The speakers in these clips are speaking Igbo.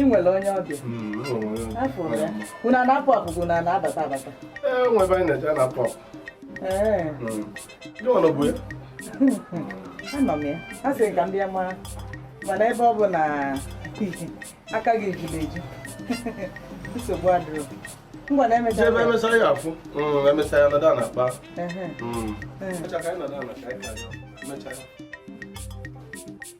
ị nwere onye ọbịa unu na-apụ apụ unu na-abata abata anọ m ya a sị ka m bịa mara mana ebe ọ bụ na aka gị ejiri eju nsogbu adịrọ ngwa na emechaa ebe emechaa ya afụ mm, emechaa ya nọdụ na-akpa mm.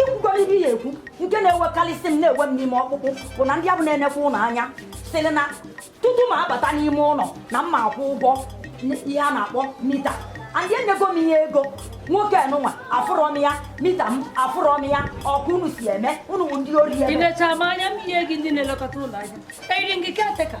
ikwukwara ibe ya ekwu nke na-ewekarịsị m na-ewe m n'ime ọkpụkpụ bụ na ndị afụ na-enekwa ụlọ anya sịrị na tutu m abata n'ime ụlọ na m ma akwụ ụgwọ ihe a na-akpọ mita and enyego m ihe ego nwoke nụnwa afụrọ m ya mita m afụrọ m ya ọ ka unu si eme unu bụ ndị ori ị necha m anya m ihe gị ndị na-elekọta ụlọ a eyiri gị caretaker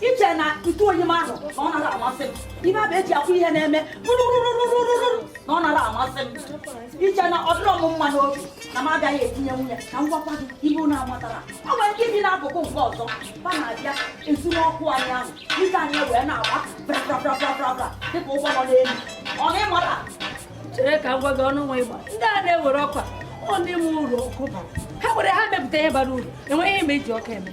i che na ntụ oyi m ahụ na ọ narọ amasị m ife afụ eji akwọ ihe na-eme rụrụrụrụrụrụ na ọ narọ amasị m i che na ọ dịrọ m mma n'obi na m agaghị etinye nwunye ka m gwakwa gị ihe unu amatara ọ nwere ike ibi n'akụkụ nke ọzọ ba na-abịa ezu ọkụ anyị ahụ ike anyị wee na-agba brabrabrabrabra dịka ụgbọ nọ n'elu ọ na ị mara chere ka m gwa gị ọnụ nwa ịgba ndị a na-ewere ọkwa ọ na-enwe uru ọkụ bara ha were ha mepụta ihe bara uru enweghị ihe m eji ọkụ eme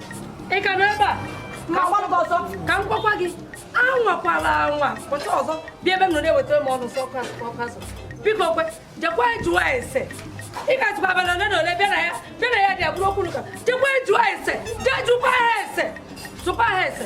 ị ka nọ ebe a ma gwa m ọzọ ka m gwakwa gị anwakwala anwa pụta ọzọ bịa ebe m nọ na-ewetara m ọnụ sọ ọkụ azụ biko kwe jekwa jụọ ese ị ga-atụba abalị ole na ole bịa na ya bịa na ya dị abụrụ okwu n'ụka jekwa jụọ ese jee jụkwa ha ese jụkwa ha ese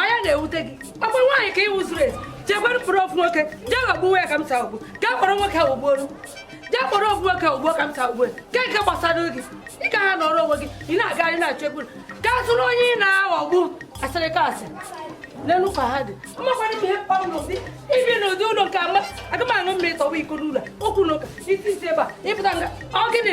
onye na-ewute gị ọkwa nwaanyị ka ị wụ zuru ezu jekwere mkpụrụ ofu nwoke jee ghọgbuwe ya ka m taa ogbu ka kpọrọ nwoke ahụ gbuoro jee kpọrọ ofu nwoke ahụ gbuo ka m taa ugbu ka nke gbasara gị ị ka ha nọrọ onwe gị ị na-agagharị na-achọ ekwuru ka zụrụ onye ị na-aghọgbu asịrị ka asị n'elu ka ha dị mmakwana ihe mkpọrọ n'ụdị ibi n'ụdị ụlọ nke ama aga m aṅụ mmiri tọwa iko n'ụlọ okwu n'ụka isi isi ebe a ị pụta nga ọ gịnị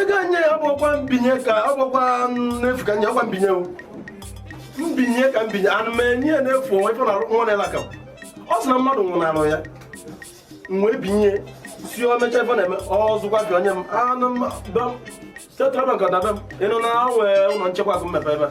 ego anyị ya ọ bụkwa mbinye ka ọ bụkwa n'efu ka nye ọkwa mbinye mbinye ka mbinye anụ m enye ya n'efu o nwe ife na nwa na elaka ọ sị na mmadụ nwụnarụ ya mgbe binye si o mecha ife na-eme ọzụkwa gị onye m anụ m setrabek ọdaba m ị nụ na nwee ụlọ nchekwa akụ m mepe ebe a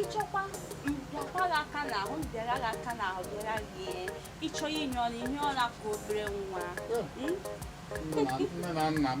ị chọkwa m bịakwa gị aka n'ahụ m bịara gị aka n'ahụ bịara gị ị chọ inye ọla inye ọla ka obere nwa nne na nna m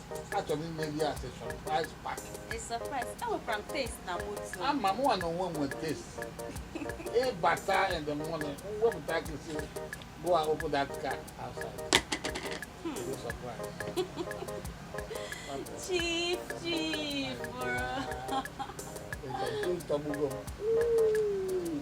achọrọ m ime ya as a surprise party A surprise. Enwekwara m taste na moto. ama m nwa na onwe m nwere taste ịbata in the morning wepụta gị sị go and open that car outside Go surprise Chief, chief, bro. Ị ga-eji ntọgbugo m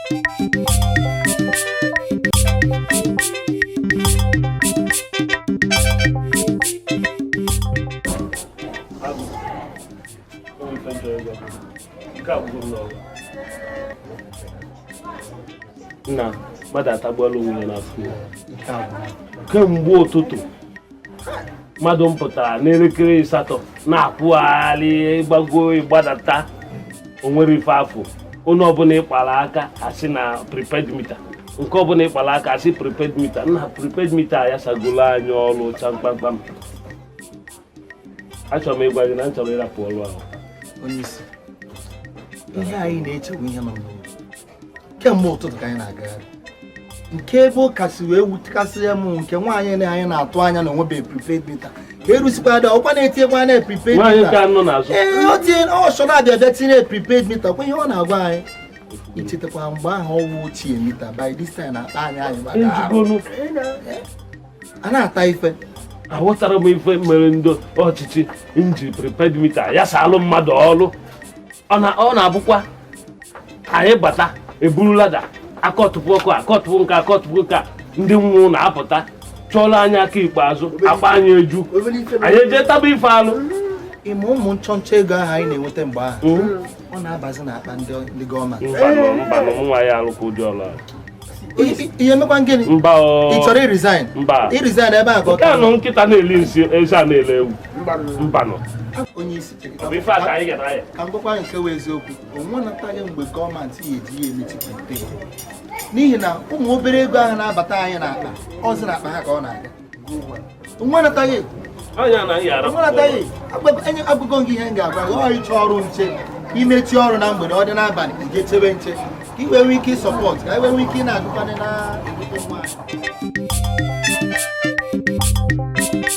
nna mmadụ atagbuola onwe ya n'afụfụ kemgbe ụtụtụ mmadụ m pụtara n'elekere asatọ na-akwụgharị ịgbago ịgbadata onwere ife afọ onye ọbụla ịkpara aka asị na prepaid mita nke ọbụla ịkpara aka asị prepaid mita nna prepaid mita ya sagolo anyị ọrụ cha kpamkpam achọrọ m ịgwa gị na m chọrọ ịrapụ ọrụ ahụ ihe anyị na-eche wụ ihe nọ n'ụlọ kemgbe ụtụtụ ka anyị na-agagharị nke ebe ọ kasị wee wutekasịa m nke nwaanyị na anyị na-atụ anya na onwebe prepaid mita ka erusikwa dị ọkwa na-etinyekwa na prepaid mita ee o tinye ọchọ na-abịa bịa tinye prepaid mita kwa ihe ọ na-agwa anyị ichetakwa mgbe ahụ ọ wụ ochie mita by this time na-akpa anyị anyị maka a na-ata ife aghọtara m ife mere ndị ọchịchị nji prepaid mita ya salụ mmadụ ọrụ ọ na-abụkwa anyị bata eburu lada akọtụpụ ọkụ akọtụpụ nke akọtụpụ nke ndị nwe ụlọ apụta chọọla anyị aka ikpeazụ akpa anyị eju anyị eje taba ife alụ ime ụmụ nchọnchọ ego ahụ anyị na-enweta mgbe ahụ hmm? ọ na-abazi n'akpa ndị gọọmenti nwa ya alụkwa ụdị ọlụ a ihe mekwa gịnị ị chọrọ ịresign resign ebe a ka ọ nọ nkịta na-eli nsị eze ana-ele ewu mbanụ onye isi ka m gwakwa nke bụ eziokwu onwe nataghị mgbe gọọmenti ya eji ya emechipụta n'ihi na ụmụ obere ego ahụ na-abata anyị n'akpa ọ zi n'akpa ha ka ọ na-aga nwa nataghị agụgo gị ihe m ga-agwa gị ọ ịchọ ọrụ nche i mechie ọrụ na mgbede ọ dị n'abalị i je chebe nche ka i wee nwee ike ịsupport ka i wee nwee ike ị na-agụkwanị na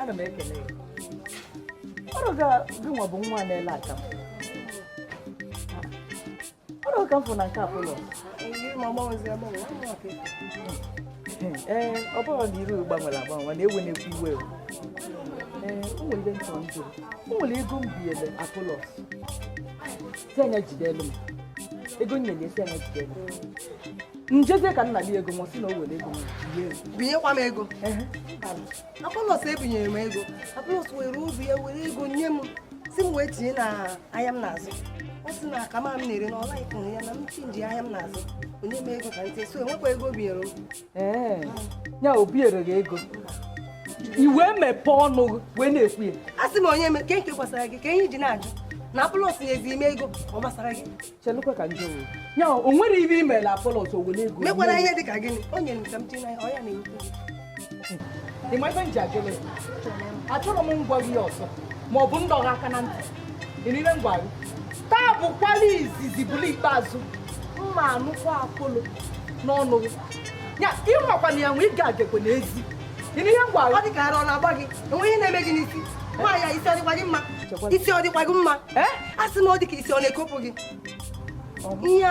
ana m ekele ọrụ ga gị nwa bụ nwa na-ele aka ọrụ ka m fụ na nke Apolos ee ọ bụrụ na iru gbanwere agbanwe na ewe na-ekwu iwe ee o nwere ndị ntọ njụrụ o nwere ego m biele Apolos anya jide elu m ego nne na esi anya jide elu njezie ka nna gị ego ma ọ sị na o were ego binyekwa m ego apọlọs ebinyere m ego apọlọs were obi ya were ego nye m sị m wee tinye na ahịa m na-azụ ọ sị na aka m na-ere na ọ laghị ya na m chinji ahịa m na-azụ o nye m ego ka ntị so enwekwa ego o binyere m ya o binyere gị ego i wee mepee ọnụ wee na-ekwu ya a sị m onye ke nke gbasara gị ka i ji na-ajụ na apọlọs nyezi m ego ọ gbasara gị chelụkwa ka m jụọ wee ya o nwere ife i mela apọlọs o were ego mekwara ihe dị ka gịnị o nyere m ka m tinye n'ahịa ọ ya na-ekwu ị ma ife m ji ajụle achọrọ m ịgwa gị ọzọ ma ọ bụ m dọọ gị aka na ntị taa bụkwala izizi bụlụ ikpeazụ m ma-anụkwa apọlọs n'ọnụ gị ịnwakwana ya anwa ị ga-agekwe n'ezi ị nụ ihe m gwara ọ dị ka ara ọ na-agba gị o nwe ihe na-eme gị n'isi nwaanyị a isi ọ dịkwa gị mma isi ọ dịkwa gị mma a sị m ọ dị ka isi ọ na-ekopụ gị ihe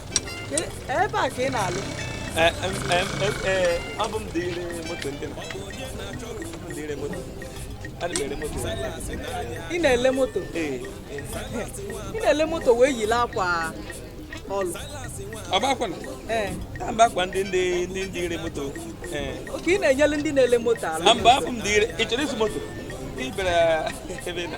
ebe a ka ị na-alụ abụ m dealer moto ndị dealer moto ị na-ele moto ị na-ele moto wee yili akwa ọlụ ọ bụkwa na ee na mba akwa ndị ndị ndị ndị ire moto ee okay ị na-enyelu ndị na-ele moto aka na mba abụ m dealer ị chọrọ ịzụ moto ị bịara ebe ị na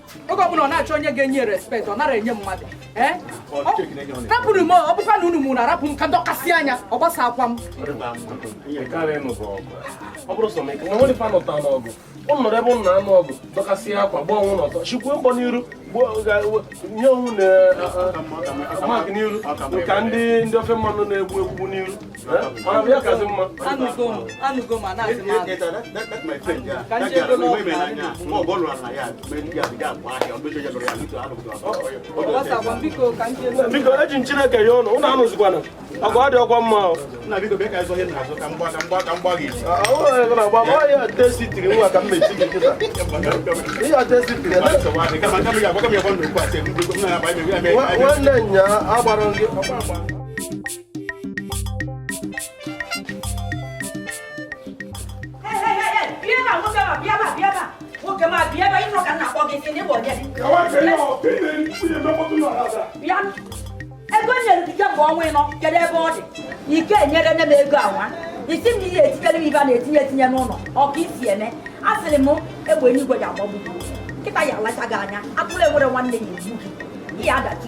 oge ọbụla ọ na-achọ onye ga-enye respect ọ nara enye mmadụ eh? rapụ nụ m ọ bụkwa na unu mụ na arapụ m ka m dọkasịa ya ọ gbasa akwa m ọ bụrụ sọ m ike na nwere fa nọta n'ọgụ ọ nọrọ ebe ụnụ na-anụ ọgụ dọkasị akwa gba onwe ụnụ ọtọ chikwuo mbọ n'iru nye onwe ụnụ mark n'iru ka ndị ndị ofe mmanụ na-egbu egbu n'iru biko eji m chineke yọọ ụnụ ụnụ anụzikwana ọgụ ọ dịrọkwa mma ya tesitiri nwa ka m mechi gị kịta ihe a tesitiri nwanne ya agbara gị ego nyere gị kemgbe ọnwa ịnọ kedu ebe ọ dị ike e nyere nne m ego awa isi m ihe etikere m ife a na-etinye etinye n'ụlọ ụka isi eme a sịrị m egbe eluigwe ya agbagbu gị nkịta ya alacha gị anya atụrụ enwere nwanne ya egbu gị ihe adachi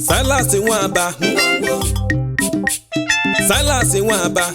Silas Nwaba Silas Nwaba